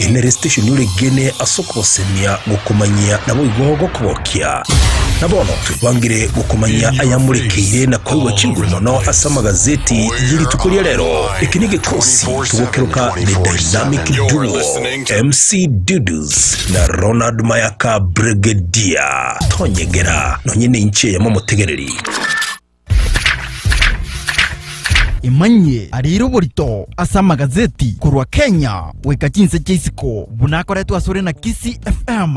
Enere station oregene ase okogosemia gokomanyia naboigo gokogokia. Na bono twebangire gokomanyia ayamorekeire na koigwa chinguru mono ase amagazeti y'erituko ria rero. Eke negekosi togokeroka The Dynamic Duo, MC Dudes na Ronald Mayaka Bregedier. Tonyegera, nonye ninche yamomotegereri. Emanyie areire oborito ase amagazeti korwa Kenya goika chinse chia isiko buna akoretwe asore na Kisii FM.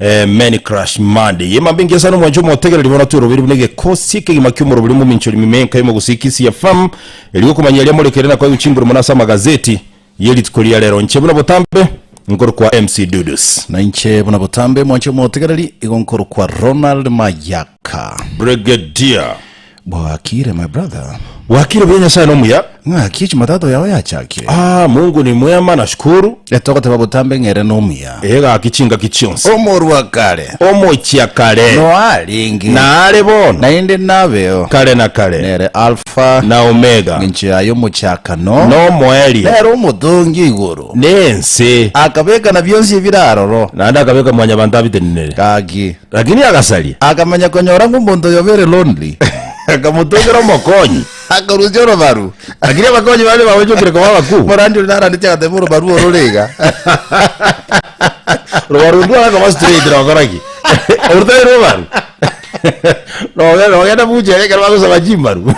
Eh, many crush mad ye mambe ngiasana omwancho omotegereri bono tweroberi buna egekosi ekegima kiomoroberi mominchori mimenka y'omogusiki CFM eri gokomanya eria morekere na koegwa chinguru mono ase amagazeti ye rituko ria rero nche buna botambe nkorokwa MC Dudus. Nainche buna botambe mwanche omotegereri igo nkorokwa Ronald Mayak. Ka. Brigadier. Bwakire my brother. Bwakire buya Nyasaye nomuya. Ng'aki Jumatatu yao yachakire. Ah, Mungu ni mwema nashukuru. Etogoteba botambe ng'ere nomuya. Egaki chingaki chionsi. Omorua kare. Omochia kare. Noarenge. Naare bono. Naende nabeo. Kare na kare. Nere Alpha. Na Omega. Ng'encho yaye omochakano. Nomoerio. Nere omotongi o igoro. Nense. Akabeka na bionsi ebire aroro. Naende akabeka Mwanyabanto abitenenere. Gaki. Lakini agasaria, akamanya konyora ng'a omonto oyo very lonely, akamotongera omokonyi, akarusia orobaru. Lakini abakonyi baria baochokire koba abakuu. Morandi oria narandeti agateba orobaru oro ore iga. Orobaru oruo agakaba straight nogokora ki? Oruta erobaru. Noge- Nogenda buchera ekero bagosaba chimaru.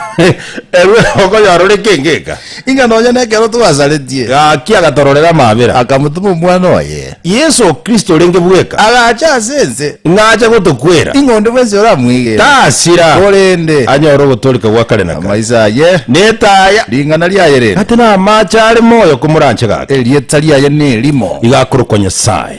Erwe okonyora ore kengeka. Ing'a nonya nekero twasaretie. Gaki agatororera amabera. Akamotoma Omwana oye. Yeso Kristo orenge bweka. Agacha ase ense. Ng'a ache gotokwera. Ing'a onde bwensi oramoigere. Tasira. Korende. Anyore ogotooreka gwa kare na kare. Amaiso aye. Netaya. Ring'ana riaye rere. Gati namaache are moyo komoranche gake. Erieta riaye nerimo. Iga akorokwa Nyasae.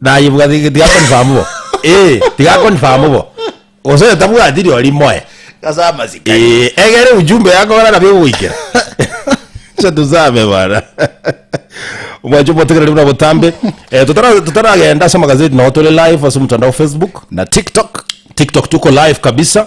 Naye bwa ti- tiga confirm bo. Eh, tiga confirm bo. Gose oyo tabwati riori moe. Ase amasiko. Eh, egere ujumbe yakogora nabio egogoikera. Acha tusabe bana. Omwancho obotegereri buna botambe. Eh, tutara- tutaragenda ase amagazeti nao tore live ase omotandao wa Facebook. Na TikTok. TikTok tuko live kabisa.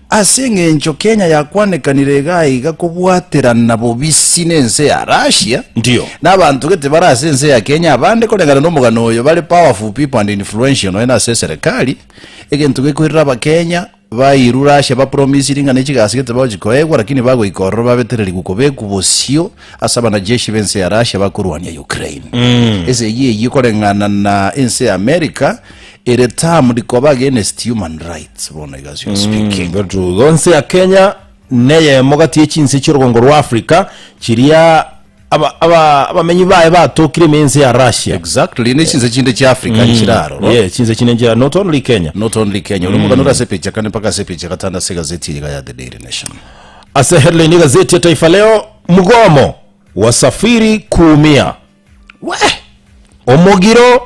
Ase engencho Kenya yakwanekanire igaa iga kobwaterana bobisi nense ya Russia, Ndio. na abanto gete bare ase ense ya Kenya abande koreng'ana nomogano oyo bare powerful people and influential nonya ase eserekari, egento gekoirera abakenya bairu Russia bapromisiri ng'a nechigasi gete bagochi koegwa lakini bagoika ororo babetererigwe kobekwa bosio ase abanajeshi bense ya Russia bakorwania Ukraine. Esegi eyio koreng'ana na ense ya America Ere term rikoba against human rights bono iga as you are speaking. Botugo, nse ya Kenya neyemo gati ye chinse chi'orogongo rwa Africa chiria aba- aba- abamenyi baye batokire ime y'ense ya Russia. Exactly, ne chinse chinde chia Africa nchire aroro. Yeah, chinse chinde nchira not only Kenya. Not only Kenya, ore omogano ore ase epeji ya kane mpaka ase epeji ya gatano ase egazeti eye iga ya The Daily Nation. Ase headline ya gazeti ya Taifa Leo, mgomo wasafiri kuumia. Wee! Omogiro!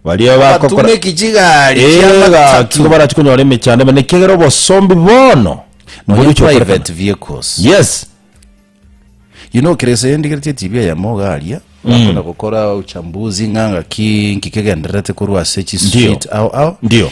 Baria bakokora... Abatumeki chigari Ee, chia gaki, amatatu. igo barachi konyora emechando ime, nekiagera obosombi bono Nonya boriche okorekana. private vehicles. Yes. You know, kere ase ndigereti etibi eyemo iga aria bakona gokora uchambuzi ng'a ng'aki nki kegendererete korwa ase Ndio. chistreet ao ao Ndio.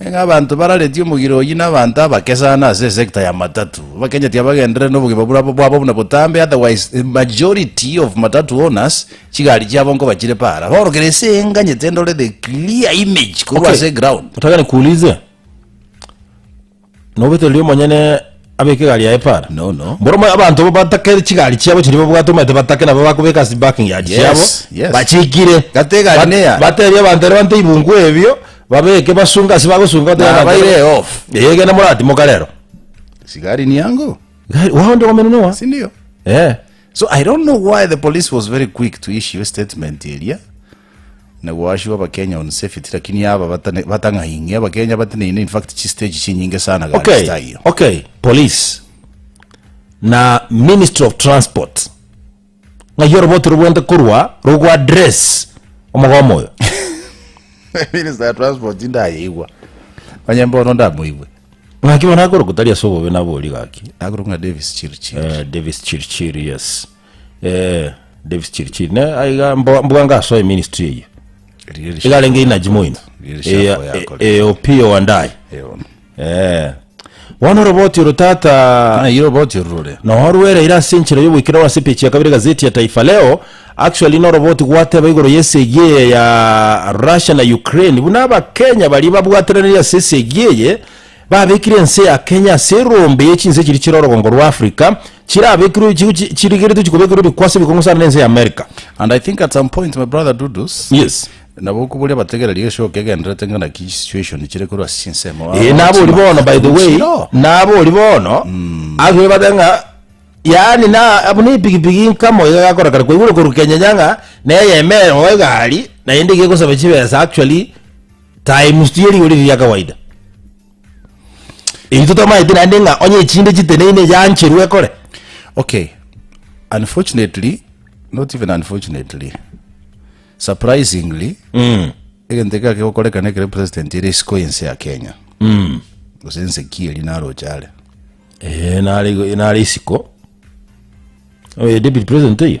Ng'a abanto bararetie omogiro oyio nabanto abake sana ase esector ya matatu, bakenyeti abagenderere nobogima bwabo bwabo buna botambe, otherwise the majority of matatu owners chigari chiabo nkoba chire para. Baorokere ase enganyete ndore the clear image korwa Okay. ase ground. Nataka nikuulize Nobetererie omonyene abeke egari yaye para? No, no. Mboromo abanto bo batake chigari chiabo chiria babwate omanyete batake nabo bakobeka ase parking yard Yes, chiabo yes. bachikire. Gati egari Bat- neya. Batebie abanto ere bante ibunku ebio babeke basunge ase bagosunga batebie Na abanto ere- baire off. Ee genda moratimoka rero. Sigari niango. Gari wao ndio wamenene wa. Sindio? Eh. So I don't know why the police was very quick to issue a statement eria. Nagoashigwe abakenya on safety lakini aba batane batang'aing'e abakenya bateneine in fact chi stage chinyinge sana gari Okay, style. okay, police na ministry of transport ng'ai oroboti rogwente korwa rogo address omogomo oyo. Minister ya transport ndayeigwa. Onye mbono ndamoigwe. Ng'aki bono akorokwa tari ase obobe nabori gaki. Agoro ng'a Davis Chirchir. Eh, Davis Chirchir, yes. Eeh Davis chiri chiri ne aiga mbo- mbwanga asoe ministry eye Riria rishako igarenge ya- inaji moino riria rishako yakore. Eye- eh, opio wandaye Eh, ono. Eh. bono oroboti oro tata Ah, iro boti orurore. noorwereire ase enchera y'oboikerero ase epechi ya kabere gazeti ya taifa leo actually noroboti gwateba igoro y'esegi eye ya russia na ukraine buna abakenya baria babwateranire ase esegi eye babekire ense ya kenya ase erombe y'echinse chiri chire orogongo rwa africa chirabekirwe chi- chi- chirigeretwe chikobekirwe ebikwaso ebikong'u sana nense ya America. And I think at some point, my brother Dudus, Yes. nabo koboria bategereri egeshoka egenderete ng'a naki situation chire korwa ase chinsemo baba Eh, nabo ori bagotima bono by the way omochiro. nabo ori bono agire bata ng'a yaani na abu ne epigipigi nkamo iga gakora kare kwaigure koru kenyenya ng'a neyemere moba egari naende iga egosaba chibesa actually times tiyo rigori riria kawaida Intwe twamaete naende ng'a onye echinde chiteneine yaancherwe ekore. Okay, unfortunately, not even unfortunately, surprisingly, mm. egento eke akegokorekana ekero president ere isiko ense ya Kenya. Mm. Gose ense ki eri naroche are. Eh, nare isiko. Oh, deputy president eyo.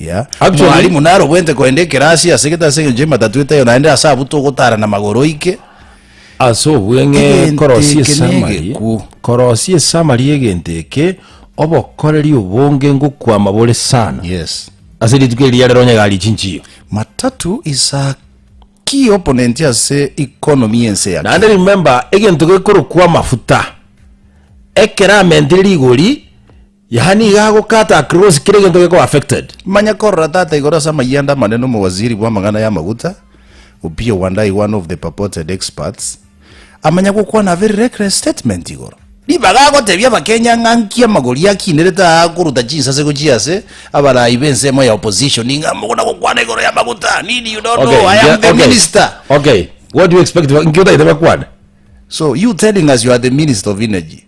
Yeah. Actually- Mwalimu narogwente koenda ekerasi ase gete ase engencho y'ematatu eteyo naende ase abwo togotara na magoro oike. ase obweng'e Egento korosia eke esamari negekwo. korosia esamari y'egento eke obokoreri obonge ngokwama bore sana Yes. ase rituko eri riarero onye gari chinchiyo Matatu is a key opponent ase economy y'ense ya naende Kenya. remember egento gekorokwa amafuta ekero amentire rigori Yaani nigo agokata across kera egento gekoba affected. Manya korora tata igoro ase amayanda amanene omowaziri bwamang'ana y'amaguta, Opiyo Wandayi one of the purported experts, amanya gokwana a very reckless statement igoro. Ribaga agotebia abakenya ng'a nki amagori akinerete aa akoruta chinsase gochia ase abarayi b'ensemo ya opposition ng'a mogona gokwana igoro y'amaguta nini you don't Okay, know I am the okay, minister. Okay, what do you expect, nki otagete bakwane? So you telling us you are the minister of energy?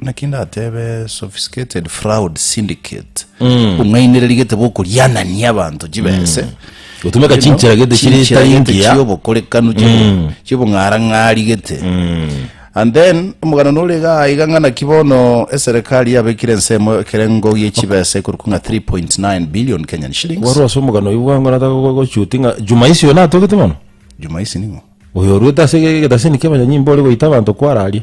naki ndatebe sophisticated fraud syndicate bong'ainereria gete bokorianania abanto chibese Gotumeka chinchera gete chiri Chinchera tari gete ngiya. chiobokorekanu chibo- chibong'arang'ari gete and then omogano nore iga iga ng'a naki bono eserekari yabekire ensemo ekerengo gie chibese ekorokwa ng'a 3.9 billion kenyan shillings Wari ase omogano oyo bwango nata gochuti ng'a juma isi oyo natogete mono. juma isi ning'o Oyo oruete ase ge- getasini kia abanyanyimba ore goita abanto kwararia.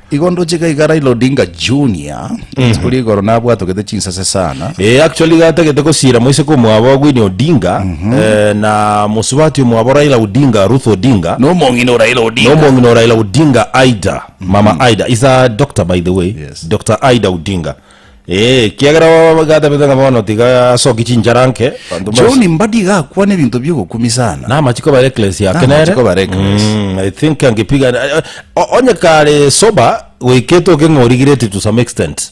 Igo ndoche iga iga Raila Odinga Junior rituko ria igoro nabwatogete chinsase sana Eh, actually gatagete gosira moiseke omwabo Winnie Odinga eh, na mosubati omwabo Raila Odinga Ruth Odinga nomong'ina o Raila Odinga nomong'ina o Raila Odinga Aida mama Aida is a doctor by the way Yes. Dr Aida Odinga Ee, ekiagera baba gatabete ng'a bono tiga asoki chinchara nke. Banto bonsi. John Mbadi iga akwana ebinto bi'ogokumia sana. Na amachiko bare ecclesia Na ake nere. amachiko bare ecclesia. Mm, I think angepiga eh, o- onye kare sober goikete oke ng'a origireti to some extent.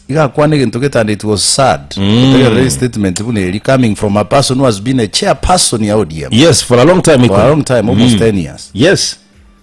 Iga akwana egento getande it was sad. Otegerere his statement buna eri coming from a person who has been a chairperson ya ODM. Yes, for a long time. For a Ikoro. long time, almost 10 years. Yes.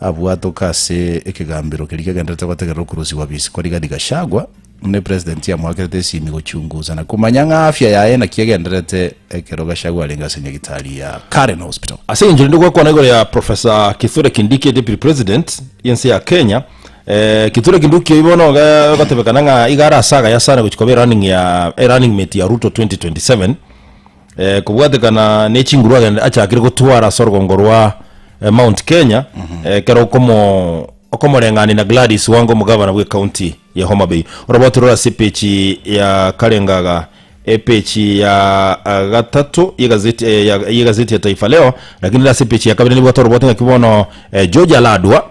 Abwatoke ase ekegambero keria kegendererete gotegerera okurusigwa Bisikwa Rigathi Gachagua, buna President amoakerete esimi gochungusa na komanya ng'a afya yaye naki egendererete ekero Gachagua arenge ase nyagitari ya Karen Hospital. Ase engencho rinde gwakwana igoro ya Professor Kithure Kindiki Deputy President y'ense ya Kenya, Kithure Kinduki oyio bono iga egotebekana ng'a iga are ase agaya sana gochia koba eRunning ya eRunning mate ya Ruto 2027. Eh, kobwatekana ne chinguru agende achakire gotwara ase orugongo rwa eh, Mount Kenya eh, kero okomo okomoreng'ania na Gladys Wanga omogabana bwe county ya Homa Bay orobote rore ase epechi ya karengaga epechi ya ah, gatato y'egazeti eh, ya- y'egazeti ya Taifa Leo lakini ase epechi ya kabere nibwate orobote ng'aki bono eh, George Aladwa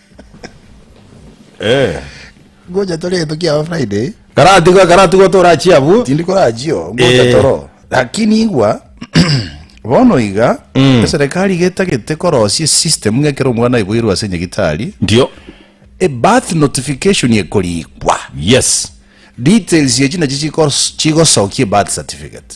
Eh. Ngocha tore egento kiabo Friday. Karatigwa karatigwa torachi abwo. Tindi korachio ngocha Eh. toro. Lakini igwa bono iga Mm. eserekari iga etagete korosia esystem ng'a ekero omwana aiboirwe ase nyagitari Ndio. a birth notification ekorikwa Yes. details echi nachi chikos- chigosokia a birth certificate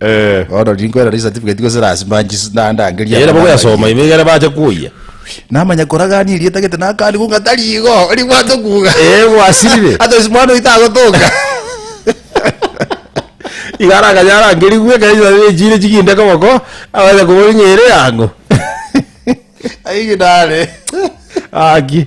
Eh. Bono riri nkwera riri certificate gose lasima nchis- na- ndangerie Ere aba bogoyasoma nabaiye. ime igere bache koyia. namanya koragania erieta gete nakani kunga tari igo ribwate kuga Eh, gwasirire. otherwise mwana oito agotoka Iga aragacha arangeriwe ekero chisabe echire chiginde koboko, abacha kobori ng'a ere ang'o. aigidare Aki.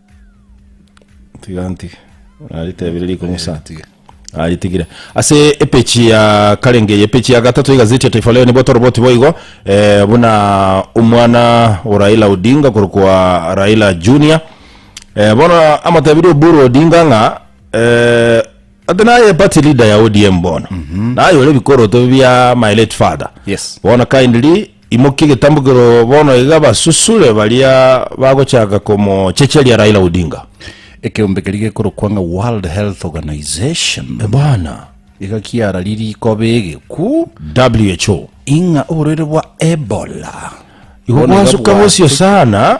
tiga ntige naritebire riko musa ntige aritigire ase epechi ya karenge eye epechi ya gatato egazeti ya taifa leo nibo toroboti boigo eh, buna omwana o raila odinga korokwa raila junior eh, bono amatebiri oburu odinga ng'a eh, ate naye party leader ya odm bono naye ore bikoroto bia my late father Yes. bono kindly Imokia egetambukero bono iga basusure baria bagochaka komochecheria Raila Odinga. Ekeombe keria gekorokwa ng'a World Health Organization Bwana. iga kiararie rikoba egekwu WHO. ing'a oborwaire bwa Ebola Igo bono iga bwansuka bosio bwasukire. sana.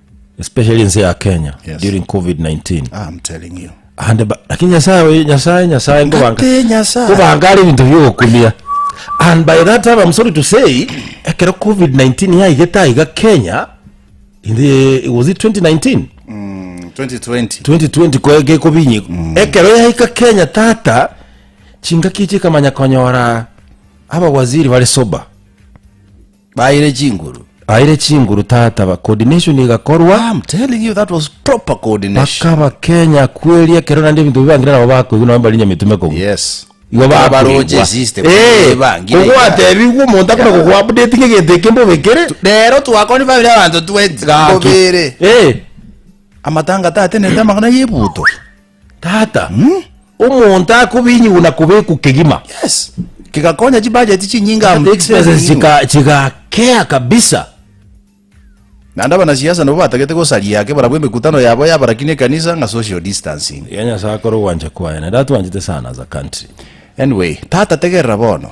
especially ense ya kenya Yes. during covid-19 Ah, I'm telling you. ande ba- lakini nyasaye we- nyasaye nyasaye ngobanga Ngate Nyasaye. ngobanga ari ebinto biogokumia and by that time i'm sorry to say ekero covid-19 yaigete aiga kenya in the, was it 2019 2020. 2020 ko- gekobinyi ekero yaika kenya tata chingaki chikamanya konyora abawaziri bari soba Baire chinguru. Baire chinguru tata ba coordination igakorwa. I'm telling you that was proper coordination. Bakaba Kenya kweri ekero naende ebinto bibangire nabo bakoigwa nabo bari nyametume kogwa. Yes. Igo baroche system ebangire. Eh, ogwatebigwa omonto akona kogwa update ngegento eke mbobekere. Rero twakoni family abanto 20 bobere. Eh. Amatanga tatenete amang'ana yebuto. Tata, omonto akobinyigwa na kobekwa kegima. Yes. Kigakonya chibajeti chinyinge amo. Kata expenses chika chigakea kabisa. Naende abanasiasa nabo batagete gosaria ake barabwo emekutano yabo y'abarakina ekanisa ng'a social distancing. Iga Nyasae akore ogwancha kwaye, naende atwanchete sana as a country. Anyway, Tata tegerera bono.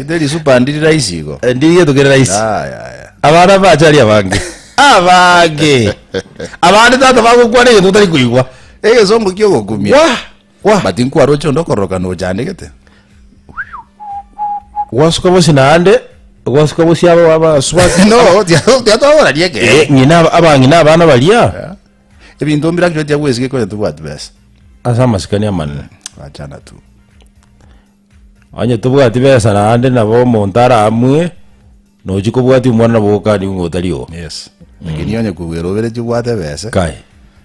Inde risupa ndiri raisi igo. Ndiri geto kere raisi. Aya, aya. Abana bachari abange. Abange. Abande tata bagokwana egento otari koigwa. Egesongo kio gokumia. Wah! Wah! But nkwara oche onde okororoka no ochandegete. Gwasuka bosi naande, gwasuka bosi aba aba swati. No, tia tia twagora rieke. Eh, ng'ina aba ng'ina abana baria. Ebinto mbire actually tiagoesigeka onye tobwati besa. Ase amasikani amanene. Achana tu. Onye tobwati besa naende nabo omonto aramue, nochi kobwatia omwana nabo okaniwe ng'a otari oo. Yes. Lakini onye kogwera oberetie obwate besa. Kae.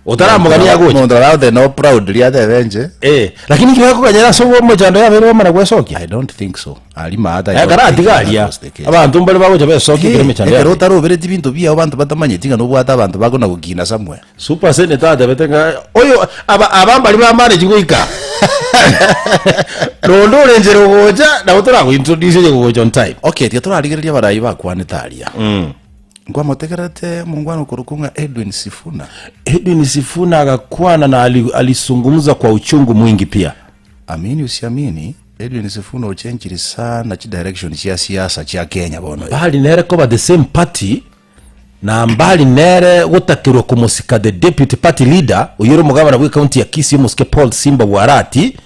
Otaramogania agocha. Omonto oragote no proudly atebe inche. Eh, lakini ekero akoganyera ase omochando yabeire bamana gwesokia. I don't think so. Ekero atiga aria, abanto mbare bagocha besokia ekero emechando Ekero yabire. otaroberetie binto biao banto batamanyeti ng'a nobwate abanto bakonagokina Samuel. Supersenator atebete ng'a oyo aba aba mbari bamaneti goika nonde ore nchera ogocha nabo torago introduce onye gogocha on time. Okay, tiga torarigereria abarai bakwanete aria. Nkwamotegerete omongwana okorokwa ng'a Edwin Sifuna. Edwin Sifuna agakwana na ali- alisungumza kwa uchungu mwingi pia. Amini usiamini, Edwin Sifuna ochenchiri sana chidirection chia siasa chia Kenya bono. Bari nere koba the same party na mbari nere gotakerwa komosika the deputy party leader oyore omogabana bwe county ya Kisii omosike Paul Simba Bwarati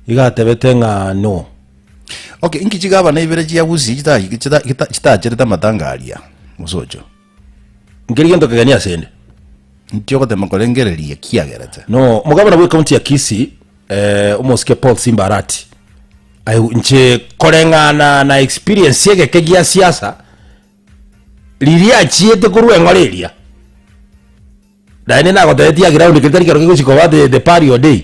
iga atebete ng'a no Okay, inki chigabana ibere chia Gusii chita- chita- chita- chitacherete amatanga aria? Musocho. Nkeri gento kegeni ase 'nde. Inki ogotema korengereria kiagerete? No Omogabana bwe county ya Kisii eh, omosike Paul Simba Arati aye inche koreng'ana na experience y'egeke gia siasa riria achiete korwa eng'ora eria naende nagotebetie ya ground keri tari kero kegochi koba the, the parrio day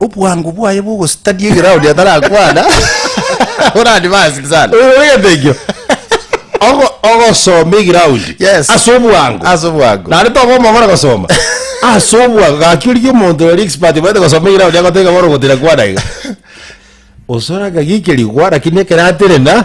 Obwango bwaye bw'ogositania egeroundi atarakwana orande basing sana. Oyo ore entengio. Ogo ogosoma egiroundi. Yes. Ase obwango. Ase obwango. Nare togomogora gosoma. Ase obwango gaki origia omonto ore expert bwete gosoma egiroundi agoteba bono gotira kwana iga. Osore agagikeria gwa lakini ekero atere na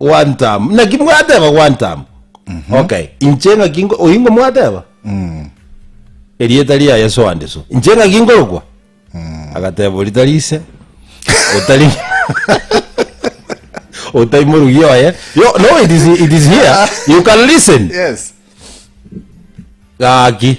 One time. Naki mwateba one time. Okay. Inche ng'aki ngo- oingo mwateba. Erieta ria Yesu ande so. Inche ng'aki ngorokwa. Agateba oritari ise. Otari Otari morugi oye. Yo, no, it is, it is here. You can listen. Yes. Gaki.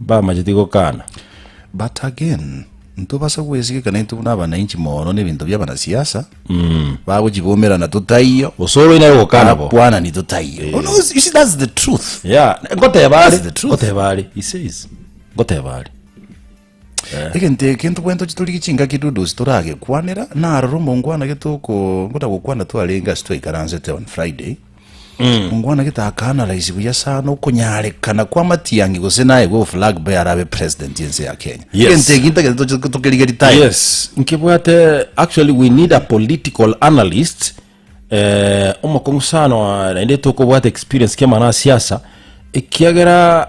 Mbamacheti gokana. But again, ntobasa gwesika ekero naintwe buna abananchi moono na ebinto bia abanasiasa, bagochibomerana totaiyo, Gose ore onye gokana bo. abakwanani totaiyo. Oh, no, you see, that's the truth. Yeah, ngoteba are, That's the truth. ngoteba are, he says. Ngoteba are. egento eke ntobwate tochi torigie chingaki dudu toragekwanera narora omongwana getoko ngoda gokwana twarenge ase twaikaransete on friday Ongwana getaakana raisi buya sana okonyarekana kwa Matiangi gose naye gwe flag bearer abe president yense ya Kenya. Yes. Egento eki ntagete toche tokeriga retire. Yes, nkebwate actually we need a political analyst eh, omokong'u sana wa- naende etokobwata experience kiamana siasa ekiagera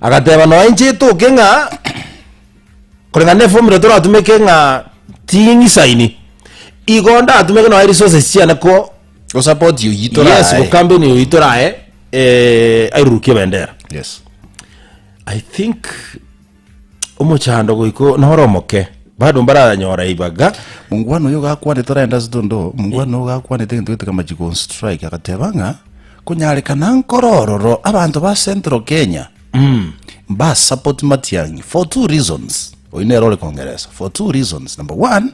Agateba, Nonya inche etoke ng'a koreng'ana neformula toratumeke ng'a ching'isaini, igo ndatumeke nonya resources chiane ko Gosupport oyio torae. yes go company oyo itorae eh, airurukie bendera Yes. i think omochando goiko noro omoke bado mbaranyora ibaga Mungwana oyo gakwanete orenda stondo, mungwana oyo gakwanete egento gete kamachigo on strike agateba ng'a Konyarekana nkore ororo abanto ba Central Kenya mba support Matiang'i for two reasons. Oyio nere ore kongeresa for two reasons. Number one,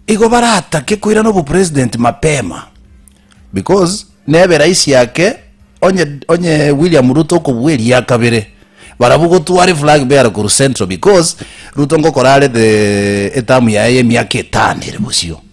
igo baratake koirana obo president mapema because nebe raisi ake onye onye William Ruto okobua eria kabere barabwo gotware flag bearer korwa Central because Ruto ngokora are the etamu yaye ya emiaka etano ere bosio.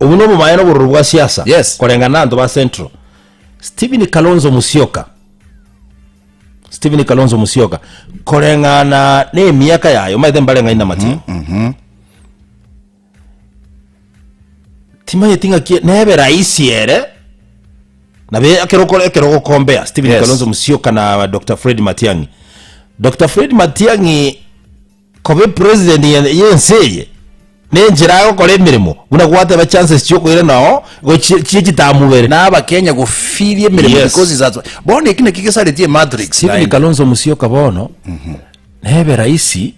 Obu nobo baye nobororo bwa siasa Yes. koreng'ana na abanto ba Central. Stephen Kalonzo Musyoka Stephen Kalonzo Musyoka koreng'ana na emiaka yaye omaete mbareng'ani na Matiang'i timaeti ng'aki nebe raisi ere nabe ekero okore- ekero ogokombea Stephen Yes. Kalonzo Musyoka na Dr. Fred Matiang'i Dr. Fred Matiang'i Kobe president y'ense eye nenchera agokora emeremo buna gwateba chances chiokoira nao gochie chie chitamubere. Na aba Kenya gofiria emeremo Yes. because is at bono eki naki gesareti e matrix Stephen naende. Kalonzo Musyoka bono nebe raisi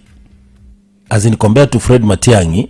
as in compared to Fred Matiang'i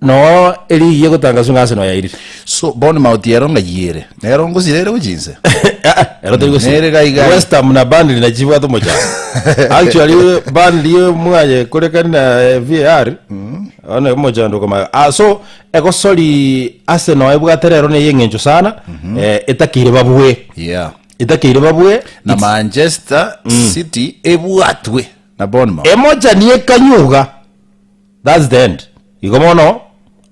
Noo erigiya egotangaswa ng'a ase noyo yairire. So, Bournemouth ero ngayiere, nero ngosira ere gochia inse? Aa, ero teri gosira. Nere gai gai. West Ham na Burnley nachi chibwate omochando. Actually, Burnley mwaye korekani na eh, VAR, one omochando okomayo. Ah, so, egosori ase noyo ebwate rero neye eng'encho sana, eh, etakeire babue. Yeah. Etakeire babue. Na Manchester City ebwatwe na Bournemouth. Emochani ekanyuga. That's the end. Igo bono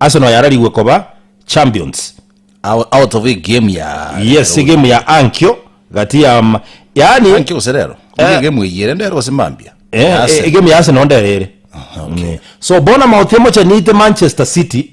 Arsenal yararigwe koba champions. Out, out of egame ya Yes, rero egame ya ankio gati ya ma- yaani Anki gose rero. Eh. Ege game eyere ndero gose mambia. Eh, Ya eh, Arsenal. egame ya Arsenal ndere ere. Okay. Mm. So bono amaote emochanite Manchester City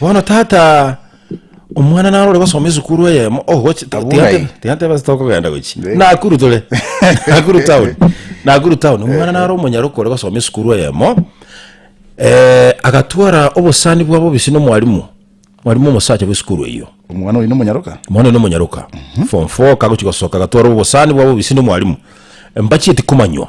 Bono tata omwana naro ore gosoma esukuru eyemo ogochi Abuna tiga ntebe- eh. tiga ntebe ase tokogenda gochi Eh. nakuru tore nakuru town nakuru town omwana naro omonyaroka ore gosoma esukuru eyemo eh, agatwara obosani bwa bobisi na omwarimu mwarimu omosacha bw'esukuru eyio Omwana oino monyaroka. mwana oino omonyaroka form four kagochi gosoka agatwara obosani bwa bobisi na omwarimu embacheti komanywa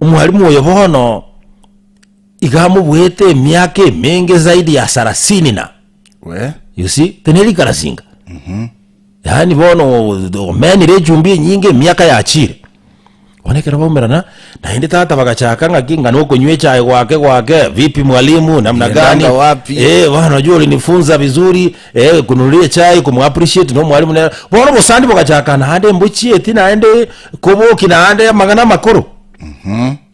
Omwalimu oyo bono iga amobuete emiaka emenge zaidi ya sarasini na We. you see tenerikarasinga yaani bono omenire echumbi enyinge emiaka yachire bono ekero baumerana naende tata bagachaka ng'aki ng'a nokonywa echae gwake gwake vipi mwalimu namna Uliendanga gani wapi? Eh, bana jua ulinifunza vizuri Eh, kununura echai, komu appreciate nomwalimu ne bono obosandi bogachaka naende mbochieti naende koboki naende amang'ana amakoro.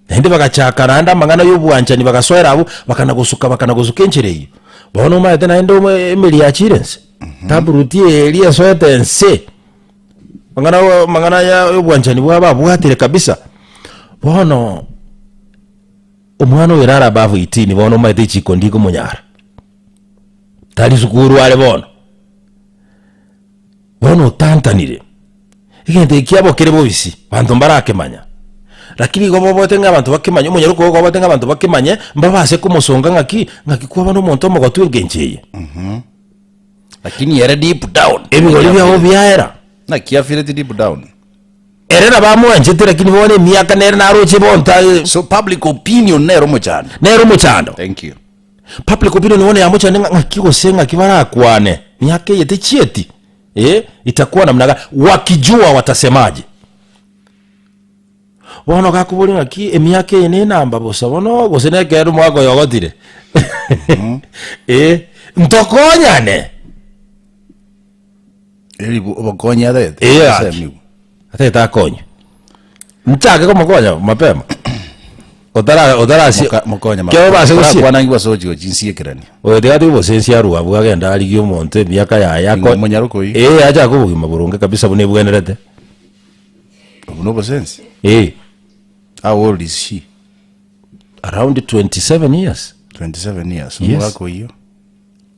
Naende bagachaka naende amang'ana y'obwanchani bagasoera abwo bakana gosuka bakana gosuka enchera eyio. Bono omaete naende omo- emeri yachire ense. Taproot eria esoete ense. Amang'ana ya- amang'ana ya obwanchani bwabo abwatire kabisa. Bono omwana oyo naro above 18 bono omaete chiko ndiko monyara. tari sukuru are bono, bono otantanire, egento eki kiabo kere bobisi, banto mbarakemanya, rakini igo boboete ng'a abanto bakemanye, omonyare okoba kwaboete ng'a abanto bakemanye, mbabase komosonga ng'a ki, ng'a ki kwaba na omonto omogotu engencho eye. Lakini ere deep down. Ebigori biabo biaera, Naki afeelet deep down. ere nabo amwanchete, rakini bono emiaka nere naroche bonta, So public opinion nere omochando. nere omochando. Thank you. Public opinion bono yamochande ng'a ng'aki gose ng'aki barakwane, miaka eye techieti, eh, itakwana namna gani, wakijua watasemaje. Bono gakoboria ng'aki emiaka eye nenamba bosa bono gose nekero omwaka oyo ogotire, eh, ntokonyane. Eri bo- obokonyi arete. Ee, Ase gaki. amigo. Atete akonywe. Nchake komokonya mapema. Otara otarasie. Moka- mokonye Kero mapema. base gosie. Korakwanangigwa ase ogochigo chinsiekerania. Oyo tigati obosensi arue abwo agende arigie omonto emiaka yaye ako- Ingo monyaro koi? Eh, acha ake obogima boronge kabisa buna ebwenerete. Obwo nobosensi. Eh, How old is she? around 27 years. 27 years. Yes. Omogaka oyio.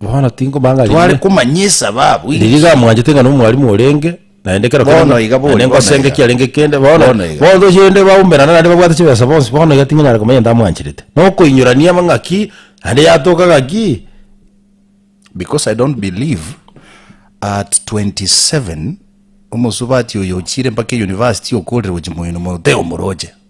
Bono tinkomanya ng'a Tware riri- komanyisa babu riri inki? gamwanchete ng'a nomwarimu orenge, naende kero Bono kende- iga bori, naende bono ngosenge iga. kiarenge kende, bono Bono iga. bono tochende baumerana naende babwate chibesa bonsi, bono iga tingonyara komanya ntamwancherete. Nokoinyorania ama ng'aki, naende yatoka ng'aki. Because I don't believe at 27 omosubati oyo ochire mpaka euniversity okorire gochia moino mono teo omoroche.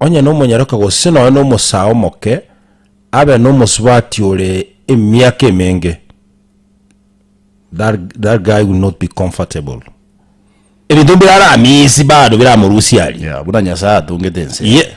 onye nomonyaroke gose nonya nomosaa omoke, abe nomosubati ore emiaka emenge, that that guy will not be comfortable. Ebinto mbiraramisi bado biramorusia aria. Yeah, buna Nyasae atongete ense. Ye-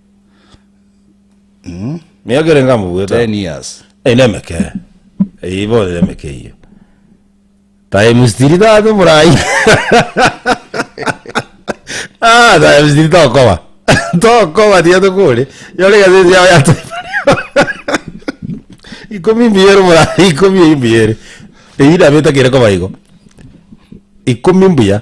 Miaka ere ngamo bweka. 10 years Eye nemeke. Eye ibo ere emeke iyo. Time stili tato borai. Ah, time stili tokoba. Tokoba tiga tokore. Yore gazeti yao ya time. Ikomi mbiyere borai, ikomi eye mbiyere. Eye nabeta kere koba igo. Ikomi mbuya.